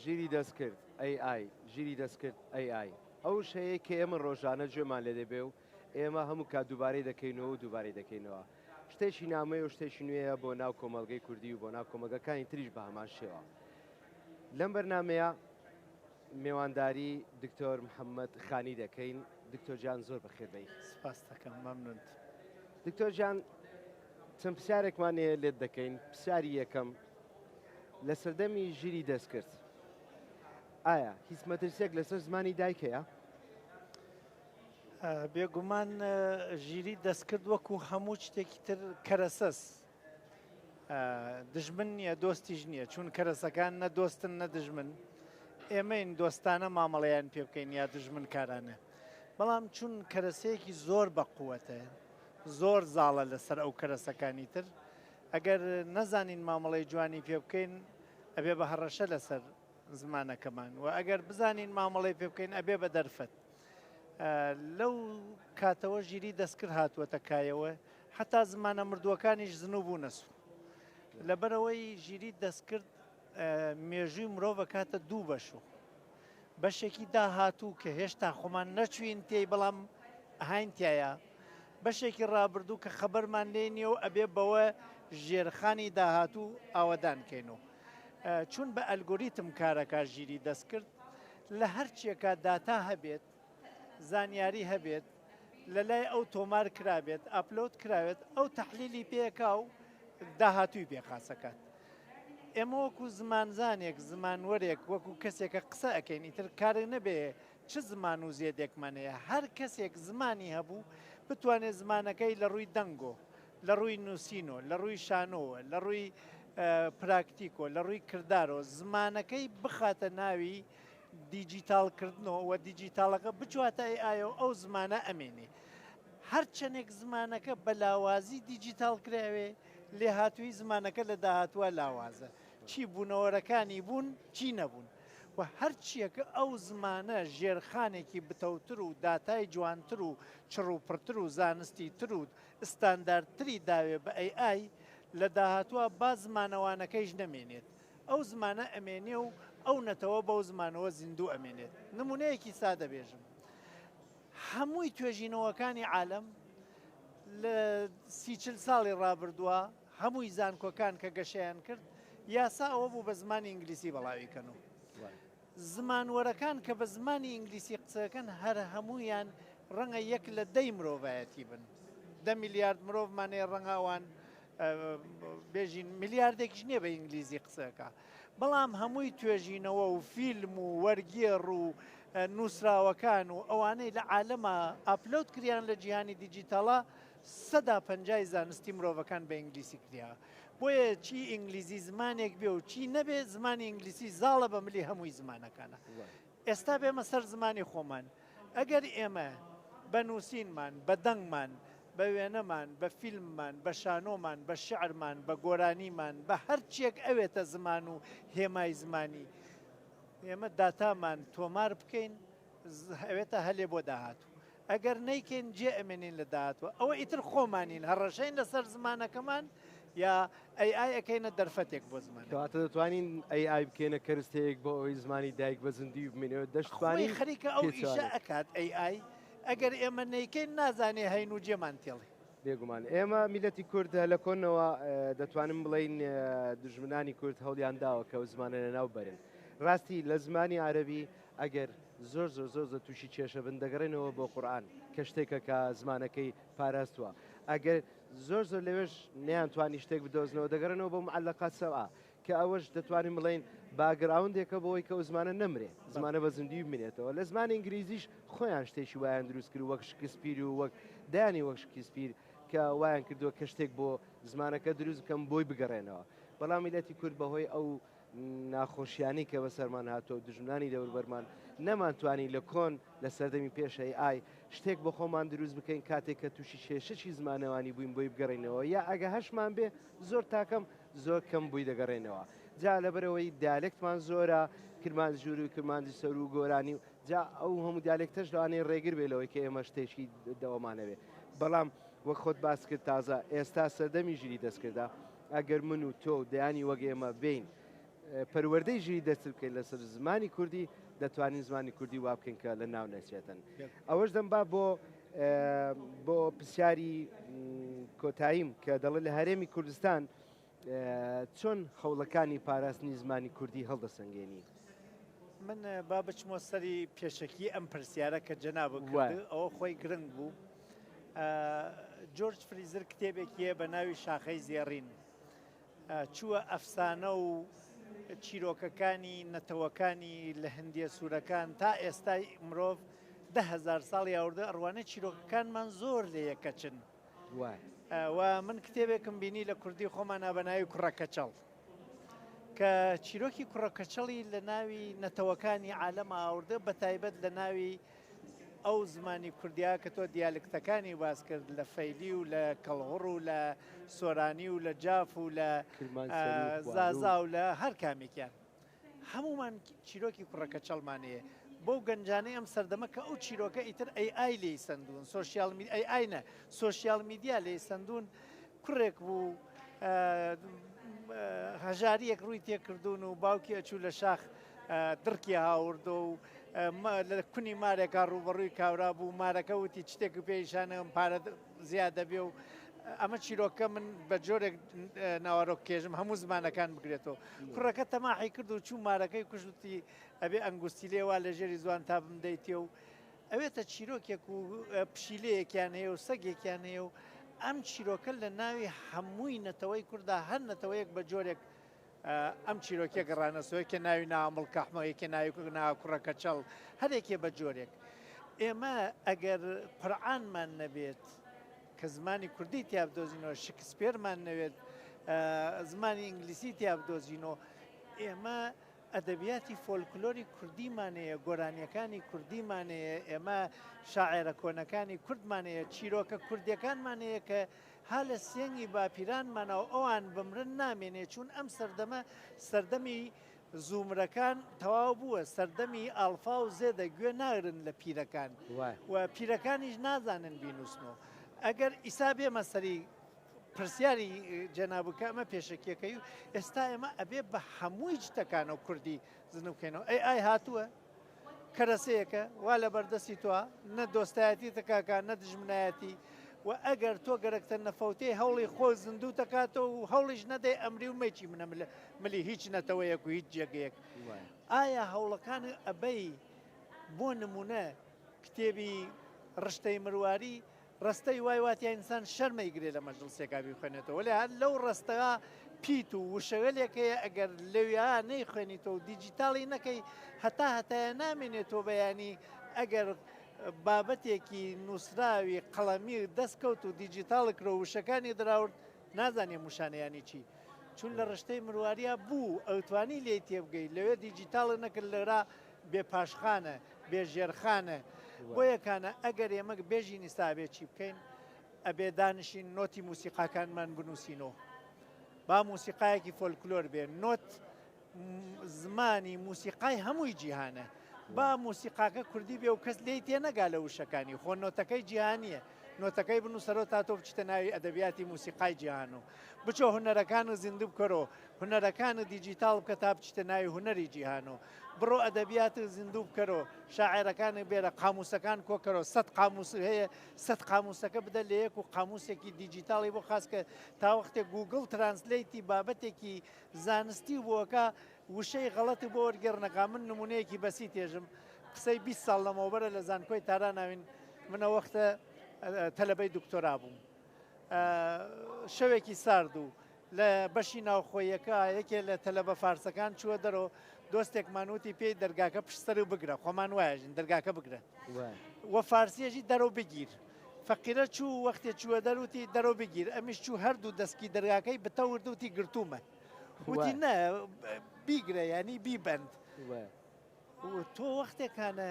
ژیری دەستکرد، AI، ژیری دەستکرد، AI، ئەو وشەیەی کە ئێمە ڕۆژانە گوێمان لێ دەبێ و ئێمە هەموو کات دووبارەی دەکەینەوە و دووبارەی دەکەینەوە. شتێکی نامۆیە و شتێکی نوێیە بۆ ناو کۆمەڵگەی کوردی و بۆ ناو کۆمەڵگەکانی تریش بە هەمان شێوە. لەم بەرنامەیە میوانداری دکتۆر محمد خانی دەکەین دکتۆر جان زۆر بەخێر بێی. سپاستەکەم مەمنونت. دکتۆر جان چەند پسیارێکمان هەیە لێت دەکەین پسیاری یەکەم لە سەردەمی ژیری دەستکرد ئایا هیچ مەترسیەک لەسەر زمانی دایک هەیە؟ بێگومان ژیری دەستکرد وەکو هەموو شتێکی تر کەرەسەس دژمن نیە دۆستیش نیە چون کەرەسەکان نە دۆستن نە دژمن ئێمەین دۆستانە مامەڵەیان پێ بکەین یا دژمن کارانە بەڵام چون کەرەسەیەکی زۆر بە قووەتە زۆر زاڵە لەسەر ئەو کەرەسەکانی تر ئەگەر نەزانین مامەڵەی جوانی پێ بکەین ئەبێ بە هەڕەشە لەسەر زمانەکەمان و ئەگەر بزانین مامەڵەی پێ بکەین ئەبێ بە دەرفەت لەو کاتەوە ژیری دەستکرد هاتووەتە کایەوە حتا زمانە مردووەکانیش زنو بوونەس لەبەرەوەی ژیری دەستکرد مێژووی مرۆڤ کاتە دوو بەشوو بەشێکی داهاتوو کە هێشتا خۆمان نەچوین تێی بەڵام هاینتایە بەشێکی ڕابردوو کە خەبەرمان لێ نیە و ئەبێ بەوە ژێرخانی داهاتوو ئاوەدانکەین و چون بە ئەلگۆریتم کارەکە ژیری دەستکرد لە هەرچیەکە داتا هەبێت زانیاری هەبێت لە لای ئەو تۆمار کرابێت ئەپلۆت کراوێت ئەو تحلیلی پێکا و داهاتوی پێ خاسەکات ئێمە وەکو زمانزانێک زمانوەرێک وەکو کەسێکە قسە ئەەکەین ئیتر کارێ نەبێ چ زمان و زێدێکمانەیە هەر کەسێک زمانی هەبوو بتوانێت زمانەکەی لە ڕووی دەنگۆ لە ڕووی نووسین و لە ڕووی شانۆ و لە ڕووی پراکتیک و لە ڕووی کردارەوە زمانەکەی بخاتە ناوی دیجیتاڵکردنەوە و دیجیتاڵەکە بچواتە ئەی ئایا و ئەو زمانە ئەمێنێ هەرچەندێک زمانەکە بە لاوازی دیجیتاڵ کراوێ لێهاتووی زمانەکە لە داهاتوە لاوازە چی بوونەوەرەکانی بوون چی نەبوون و هەرچیەکە ئەو زمانە ژێرخانێکی بتەوتر و داتای جوانتر و چڕوپڕتر و زانستی تر و ستاندارد تری داوێ بە ئەی ئای لە داهاتووە با زمانە وانەکەیش نەمێنێت ئەو زمانە ئەمێنێ و ئەو نەتەوە بەو زمانەوە زیندوو ئەمێنێت نمونەیەکی سادە بێژم هەمووی توێژینەوەکانی عالەم لە سی چل ساڵی ڕابردووە هەمووی زانکۆکان کە گەشەیان کرد یاسا ئەوە بوو بە زمانی ئینگلیسی بەڵاوی کەن و زمانوەرەکان کە بە زمانی ئینگلیسی قسەکەن هەر هەموویان ڕەنگە یەک لە دەی مرۆڤایەتی بن. دە میلیارد مرۆڤمان هەیە ڕەنگە ئەوان بێژین میلیاردێکیش نییە بە ئینگلیزی قسەکە. بەڵام هەمووی توێژینەوە و فیلم و وەرگێڕ و نووسراوەکان و ئەوانەی لە عالەما ئاپلۆد کریان لە جیهانی دیجیتاڵە سەدا پەنجای زانستی مرۆڤەکان بە ئینگلیسی کریا. بۆیە چی ئینگلیزی زمانێک بێ و چی نەبێ زمانی ئینگلیسی زاڵە بە ملی هەمووی زمانەکانە ئێستا بێمە سەر زمانی خۆمان ئەگەر ئێمە بە نووسینمان بە دەنگمان بە وێنەمان بە فیلممان بە شانۆمان بە شعرمان بە گۆرانیمان بە هەرچێک ئەوێتە زمان و هێمای زمانی ئێمە داتامان تۆمار بکەین ئەوێتە هەلێ بۆ داهاتوو ئەگەر نەیکەین جێ ئەمێنین لە داهاتوە ئەوە ئیتر خۆمانین هەڕەشەین لەسەر زمانەکەمان یا ئەی ئای ئەەکەینە دەرفەتێک بۆ زمان کەواتە دەتوانین ئەی ئای بکەینە کەرستەیەک بۆ ئەوەی زمانی دایک بە زندی بمێنەوە دەشتوانی خەریکە ئەو ئیشە ئەکات ئەی ئای ئەگەر ئێمە نەیکەین نازانێ هەین و جێمان تێڵی بێگومان ئێمە میلەتی کورد لە کۆنەوە دەتوانم بڵین دژمنانی کورد هەڵیان داوە کە زمانە لە ناو بەرن ڕاستی لە زمانی عربی ئەگەر زۆر زۆر زۆر زۆر تووشی کێشە بن دەگەڕێنەوە بۆ قورئان کە شتێکە کە زمانەکەی پاراستووە ئەگەر زۆر زۆر لەوێش نەیانتوانی شتێک بدۆزنەوە دەگەڕێنەوە بۆ معلقات سەبعە کە ئەوەش دەتوانین بڵێین باگراوندێکە بۆی کە زمانە نەمرێ زمانە بە زیندوی بمێنێتەوە لە زمانی ئینگلیزیش خۆیان شتێکی وایان دروست کرد وەک شکسپیر و وەک دانی وەک شکسپیر کە وایان کردووە کە شتێک بۆ زمانەکە دروست بکەم بۆی بگەڕێنەوە بەڵام میلەتی کورد بەهۆی ئەو ناخۆشیانەی کە بەسەرمان هاتووە و دوژمنانی دەوربەرمان، نەمانتوانی لە کۆن، لە سەردەمی پێش ئەی ئای، شتێک بۆ خۆمان دروست بکەین کاتێک کە تووشی کێشەکی زمانەوانی بووین بۆی بگەڕێینەوە یا ئەگە هەشمان بێ زۆر تاکەم زۆر کەم بۆی دەگەڕێینەوە جا لەبەرئەوەی دیالێکتمان زۆرە کرمانجوری و کرمانجی سەرو و گۆرانی و جا ئەو هەموو دیالێکتەش لەوانەیە ڕێگر بێ لەوەی کە ئێمە شتێکی دەوەمانەوێ بەڵام وەک خۆت باس کرد تازە ئێستا سەردەمی ژیری دەستکردە ئەگەر من و تۆ و دەیانی وەک ئێمە بێین پەروەردەی ژیری دەرچ بکەین لەسەر زمانی کوردی، دەتوانین زمانی کوردی وا بکەین کە لە ناو نەچێتن. ئەوەش دەم با بۆ بۆ پرسیاری کۆتاییم کە دەڵێت لە هەرێمی کوردستان چۆن خەوڵەکانی پاراستنی زمانی کوردی هەڵدەسەنگێنی؟ من با بچمەوە سەری پێشەکی ئەم پرسیارە کە جەنابت کرد، ئەوە خۆی گرنگ بوو. جۆرج فریزر کتێبێکی هەیە بە ناوی شاخەی زێڕین چووە ئەفسانە و چیرۆکەکانی نەتەوەکانی لە هەندیە سوورەکان تا ئێستای مرۆڤ دههزار ساڵ یاوردە ئەڕوانێت چیرۆکەکانمان زۆر لە یەکەچن و من کتێبێکم بینی لە کوردی خۆمان نابەناوی کوڕەکەچەڵ کە چیرۆکی کوڕەکەچەڵی لە ناوی نەتەوەکانی عالەمە ئاوردە بە تایبەت لە ناوی ئەو زمانی کوردیە کە تۆ دیالکتەکانی باس کرد لە فەیلی و لە کەڵهوڕ و لە سۆرانی و لە جاف و لە زازا و لە هەر کامێکیان هەمومان چیرۆکی کوڕەکەچەڵمان هەیە بۆ گەنجانەی ئەم سەردەمە کە ئەو چیرۆکە ئیتر ئەی ئای لی سندون سوسیال ئەی ئاینە سوسیال میدیا لی سندون کوڕێک بوو هەژاریەک ڕووی تێکردوون و باوکی ئەچوو لە شاخ دڕکی هاوردە و لە کونی مارێکا ڕووبەڕووی کاورا بوو مارەکە وتی چتێک پێیشانم پارە زیاد دەبێ و ئەمە چیرۆکە من بە جۆرێک ناوارۆک کێژم هەموو زمانەکان بگرێتەوە کوڕەکە تەماحی کرد و چوو مارەکەی کوشتی ئەبێ ئەنگوستی لێوا لە ژێری زوان تا بمدەیتێ و ئەوێتە چیرۆکێک و پشیلەیەکیان هەیە و سەگێکیان هەیە و ئەم چیرۆکە لە ناوی هەمووی نەتەوەی کووردا هەر نەتەوەیەک بە جۆرێک ئەم چیرۆکیە گەڕانە سۆ یەکێ ناوی ناوە مڵکەحمە یەکێ ناوی ناوە کوڕە کەچەڵ هەرێکێ بە جۆرێک ئێمە ئەگەر قورعانمان نەبێت کە زمانی کوردی تیا بدۆزینەوە شکسپێرمان نەوێت زمانی ئینگلیسی تیا بدۆزینەوە ئێمە ئەدەبیاتی فۆلکلۆری کوردیمانەیە گۆرانیەکانی کوردیمانەیە ئێمە شاعێرە کۆنەکانی کوردمانەیە چیرۆکە کوردیەکانمانەیە کە ها لە سێنگی باپیرانمانەوە ئەوان بمرن نامێنێ چوون ئەم سەردەمە سەردەمی زومرەکان تەواو بووە سەردەمی ئاڵفا و زێدە گوێ ناگرن لە پیرەکان و پیرەکانیش نازانن بینووسن و ئەگەر ئیسا بێمە سەری پرسیاری جەنابکە ئەمە پێشەکیەکەی و ئێستا ئێمە ئەبێ بە هەمووی جتەکانەوە کوردی زنوکەینەوە ئەی ئای هاتووە کەرەسەیەکە وا لەبەر دەستی تۆ نە دۆستایەتی تکاکە نە دژمنایەتی و ئەگەر تۆ گەرەکتە نەفەوتەی هەوڵی خۆ زیندوو دەکاتەوە و هەوڵیش نەدەی ئەمری و مەچی منە ملە ملی هیچ نەتەوەیەک و هیچ جێگەیەک ئایا هەوڵەکان ئەبەی بۆ نمونە کتێبی ڕشتەی مرواری ڕستەی وای وا تیا ئینسان شەرمە ئیگرێ لە مەجڵسێکا بیخوێنێتەوە وەلێ هەر لەو ڕستەا پیت و وشەوێلێک هەیە ئەگەر لەویا نەیخوێنیتەوە و دیجیتاڵی نەکەی هەتا هەتایە نامێنێ تۆ بەیانی ئەگەر بابەتێکی نووسراوی قەڵەمی و دەستکەوت و دیجیتاڵ کرۆ وشەکانی دراورد نازانێ موشانەیانی چی چون لە ڕشتەی مرواریا بوو ئەوتوانی لێی تێبگەی لەوێ دیجیتاڵ نەکرد لەرا بێ پاشخانە، بێ ژێرخانە. بۆیە کانە ئەگەر ئێمە بێژین ئیستا ئەبێ چی بکەین؟ ئەبێ دانیشین نۆتی موسیقاکانمان بنووسینەوە. با موسیقایەکی فۆلکلۆر بێ نۆت زمانی موسیقای هەمووی جیهانە. با موسیقاکە کوردی بێ و کەس لێی تێ نەگا لە وشەکانی خۆ نۆتەکەی جیهانیە. نۆتەکەی بنووسەرەوە تا تۆ بچتە ناوی ئەدەبیاتی موسیقای جیهان و بچۆ هوەرەکان و زیندوو بکەرەوە هوەرەکان و دیجیتال بکە تا بچتە ناوی هوەری جیهان و بڕۆ ئەدەبیاتت زیندوو بکەرۆ، شاعێرەکانت بێرە، قامووسەکان کۆ کەرۆ، سەد قامووست هەیە، سەد قامووسەکە بدە لە یەک و قامووسێکی دیجیتاڵی بۆ خاس کە، تا وەختێ گووگڵ ترانسلەیتی بابەتێکی زانستی بۆ ئەکا، وشەی غەڵەتی بۆ وەرگێڕنەکا، من نموونەیەکی بەسیت ئێژم، قسەی بیست ساڵ لەمەوبەرە لە زانکۆی تاران ئاوین، من ئەو وەختە تەلەبەی دکتۆرا بووم، شەوێکی سارد و لە بەشی ناوخۆییەکە یەکێ لە تەلەبە فارسەکان چووە دەرەوە، دۆستێکمان وتی پێی دەرگاکە پشت سەرو بگرە، خۆمان وایەژین دەرگاکە بگرە و فارسیەژی دەرەوە بگیر. فەقیرە چوو و وەختێ چووە دەر وتی دەرەوە بگیر، ئەمیش چوو هەردوو دەسکی دەرگاکەی بتەورد وتی گرتوومە. وتی نە بیگرە یانی بیبەند. تۆ وەختێ کانە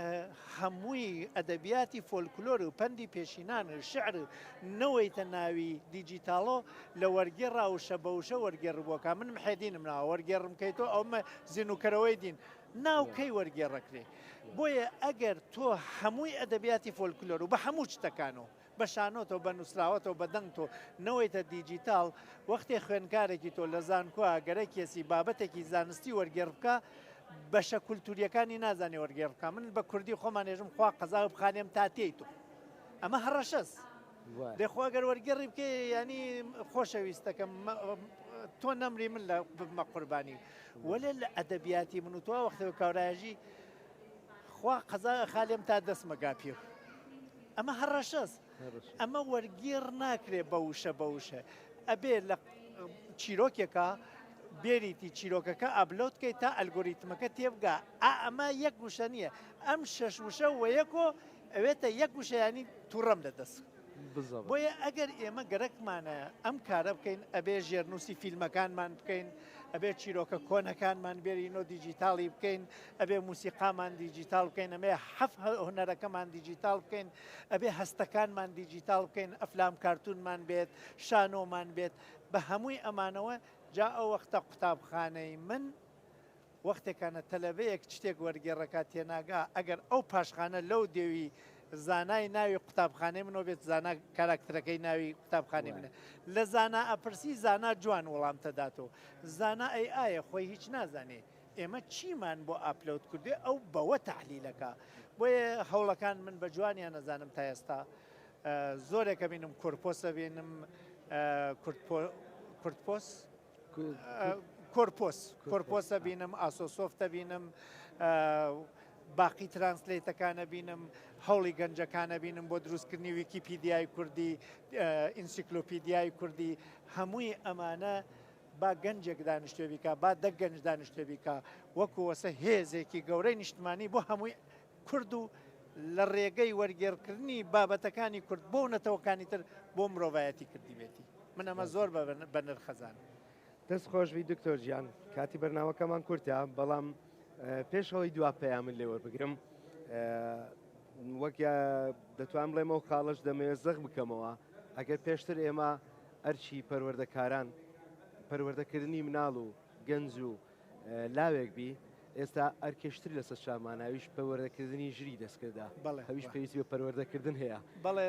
هەمووی ئەدەبیاتی فۆلکلۆر و پەندی پێشینان و شعر نەوەیتە ناوی دیجیتاڵۆ لە وەرگێ ڕاوشە بەوشە وەرگێڕبووەکە من محێدینم ناوە وەرگێڕم کەی تۆ ئەومە زیینوکەرەوەی دین ناو کەی وەرگێڕەکرێ بۆیە ئەگەر تۆ هەمووی ئەدەبیاتی فۆلکلۆر و بە هەموو شتەکانەوە بە شانۆتەو بە نوسراوەتەو بە دەنگ تۆ نەوەیتە دیجیتاڵ وەختێ خوێنکارێکی تۆ لە زانکۆا گەرە کێسی بابەتێکی زانستی وەرگێڕ بکا بەشە کولتوریەکانی نازانێ وەرگێڕ بکا من بە کوردی خۆمان ێژم خوا قەزاو بخانێم تا تێی تۆ ئەمە هەڕەشەس دەخوا گەر وەرگێڕی بکە ینی خۆشەویستەکەم تۆ نەمری من لە بمە قوربانی وەێ لە ئەدەبیاتی من و تۆ وەختەوە کاراژی خوا قەزا ئەخا لێم تا دەسمە گاپیر. ئەمە هەڕەشەس ئەمە وەرگێڕ ناکرێ بە وشە بە وشە ئەبێ لە چیرۆکێکە بێریتی چیرۆکەکە ئابلۆت کەیت تا ئەلگۆریتمەکە تێبگا ئا ئەمە یەک وشە نییە ئەم شەش وشە وەیەکۆ ئەوێتە یەک وشەیانی تووڕەم لە دەست بۆیە ئەگەر ئێمە گەرەکمانە ئەم کارە بکەین ئەبێ ژێرنووسی فیلمەکانمان بکەین ئەبێت چیرۆکە کۆنەکانمان بێرینۆ دیجیتاڵی بکەین ئەبێ موسیقامان دیجیتال بکەین ئەمێ حەف هونەرەکەمان دیجیتال بکەین ئەبێ هەستەکانمان دیجیتال بکەین ئەفلام کارتونمان بێت شانۆمان بێت بە هەمووی ئەمانەوە جا ئەو وەختە قوتابخانەی من وەختێکانە تەلەبەیەک چتێک وەرگێڕەکا تێناگا، ئەگەر ئەو پاشخانە لەو دێوی زانای ناوی قوتابخانەی منەوە بێت، زانا کاراکترەکەی ناوی قوتابخانەی منە. لە زانا ئەپرسی، زانا جوان وڵامتەداتۆ. زانا ئەی ئایە خۆی هیچ نازانێ؟ ئێمە چیمان بۆ ئاپلەود کردووێ ئەو بەوە تەحلیلەکا. بۆیە هەوڵەکان من بە جوانیان ئەزانم تا ئێستا زۆرێک ئەبینم کۆرپۆس ئەبینم کورتپۆس، کۆرپۆس کۆرپۆس ئەبینم ئاسۆسۆفت ئەبینم باقی ترانسلیتەکان ئەبینم هەوڵی گەنجەکان ئەبینم بۆ دروستکردنی ویکیپیدیای کوردی ئینسیکلۆپیدیای کوردی هەمووی ئەمانە با گەنجێک دانیشتێ بیکە با دە گەنج دانیشتێ بیکە وەکو وەسە هێزێکی گەورەی نیشتمانی بۆ هەمووی کورد و لە ڕێگەی وەرگێڕکردنی بابەتەکانی کورد بۆ نەتەوەکانی تر بۆ مرۆڤایەتی کردیبێتی من ئەمە زۆر بەنرخەزانم. دەست خۆشبی دکتۆر جیان کاتی بەرناوەکەمان کورتە بەڵام پێش ئەوەی دوا پەیامن لێوە بگرم وەک دەتوان بڵێمەوە خاڵش دەمەوێت زەخ بکەمەوە ئەگەر پێشتر ئێمە ئەرچی پەروەردەکاران پەروەردەکردنی مناڵ و گەنج و لاوێک بی ئێستا ئەرکێشتر لە سەرچاوماناویش پەروەردەکردنی ژری دەستکردە بەڵێ هەویش پێویست بە پەروەردەکردن هەیە بەڵێ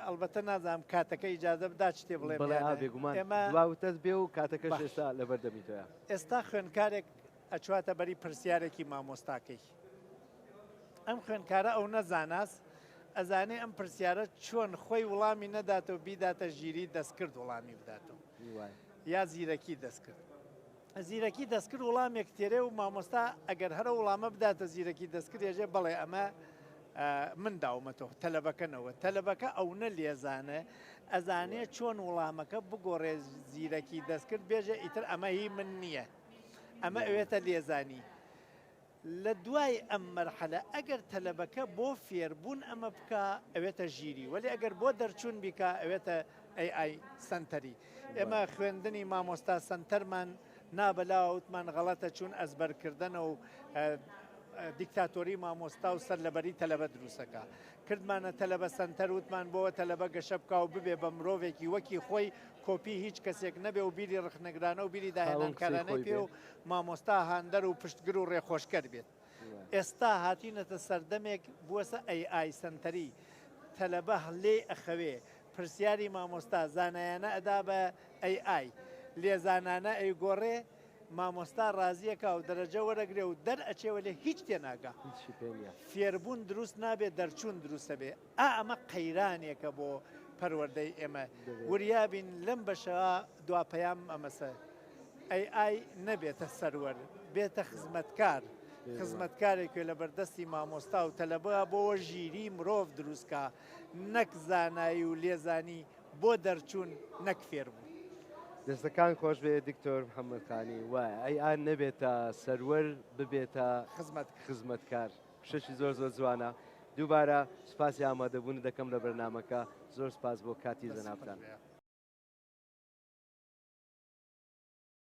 ئەلبەتە نازانم کاتەکە ئیجازە بدا شتێ بڵێ بڵێ بێگومان ئێمەتەس بێ و کاتەکە ئێستا لەبەر دەمیتەوە ئێستا خوێندکارێک ئەچواتە بەری پرسیارێکی مامۆستاکەی ئەم خوێندکارە ئەو نەزاناس ئەزانێ ئەم پرسیارە چۆن خۆی وڵامی نەداتەوە بیداتە ژیری دەستکرد وڵامی بداتەوە یا زیرەکی دەستکرد زیرەکی دەستکرد وڵامێک تێرێ و مامۆستا ئەگەر هەر ئەو وڵامە بداتە زیرەکی دەستکرد ئێژێ بەڵێ ئەمە من داومەتەوە تەلەبەکەنەوە تەلەبەکە ئەونە لێزانە ئەزانێ چۆن وڵامەکە بگۆڕێ زیرەکی دەستکرد بێژە ئیتر ئەمە هی من نییە ئەمە ئەوێتە لێزانی لە دوای ئەم مەرحەلە ئەگەر تەلەبەکە بۆ فێربوون ئەمە بکا ئەوێتە ژیری وەلی ئەگەر بۆ دەرچوون بیکا ئەوێتە ئەی ئای سەنتەری ئێمە بەڵێ. خوێندنی مامۆستا سەنتەرمان نا بەلاوە وتمان غەڵەتە چوون ئەزبەرکردەنە و دیکتاتۆری مامۆستا و سەرلەبەری تەلەبە دروست ئەکا کردمانە تەلەبە سەنتەر وتمان بۆوە تەلەبە گەشە بکا و ببێ بە مرۆڤێکی وەکی خۆی کۆپی هیچ کەسێک نەبێ و بیری ڕخنەگرانە و بیری خاوەن قسەی داهێنانکارانەی خۆی پێ بێ. و مامۆستا هاندەر و پشتگر و ڕێخۆشکەر بێت ئێستا هاتینەتە سەردەمێک بوەسە AI سەنتەری تەلەبە لێی ئەخەوێ پرسیاری مامۆستا زانایانە ئەدا بە AI لێ زانانە ئەیگۆڕێ مامۆستا ڕازیەکا و دەرەجە وەرەگرێ و دەر ئەچێ وەلێ هیچ تێناگا فێربوون دروست نابێ دەرچوون دروستە بێ ئا ئەمە قەیرانێکە بۆ پەروەردەی ئێمە وریابین لەم بەشە دواپەیام ئەمەسە ئەی ئای نەبێتە سەروەر بێتە خزمەتکار خزمەتکارێکێ لە بەردەستی مامۆستا و تەلەبە بۆوە ژیری مرۆڤ دروستکە نەک زانایی و لێزانی بۆ دەرچوون نەک فێربوو. دەستەکان خۆش بێ دکتۆر محەمەد خانی وایە ئەی ئان نەبێتە سەروەر ببێتە خزمەت خزمەتکار. شتێکی زۆر زۆر جوانە دووبارە سوپاسی ئامادەبوونت دەکەم لە بەرنمەکە زۆر سپاس بۆ کاتی جەنابتان.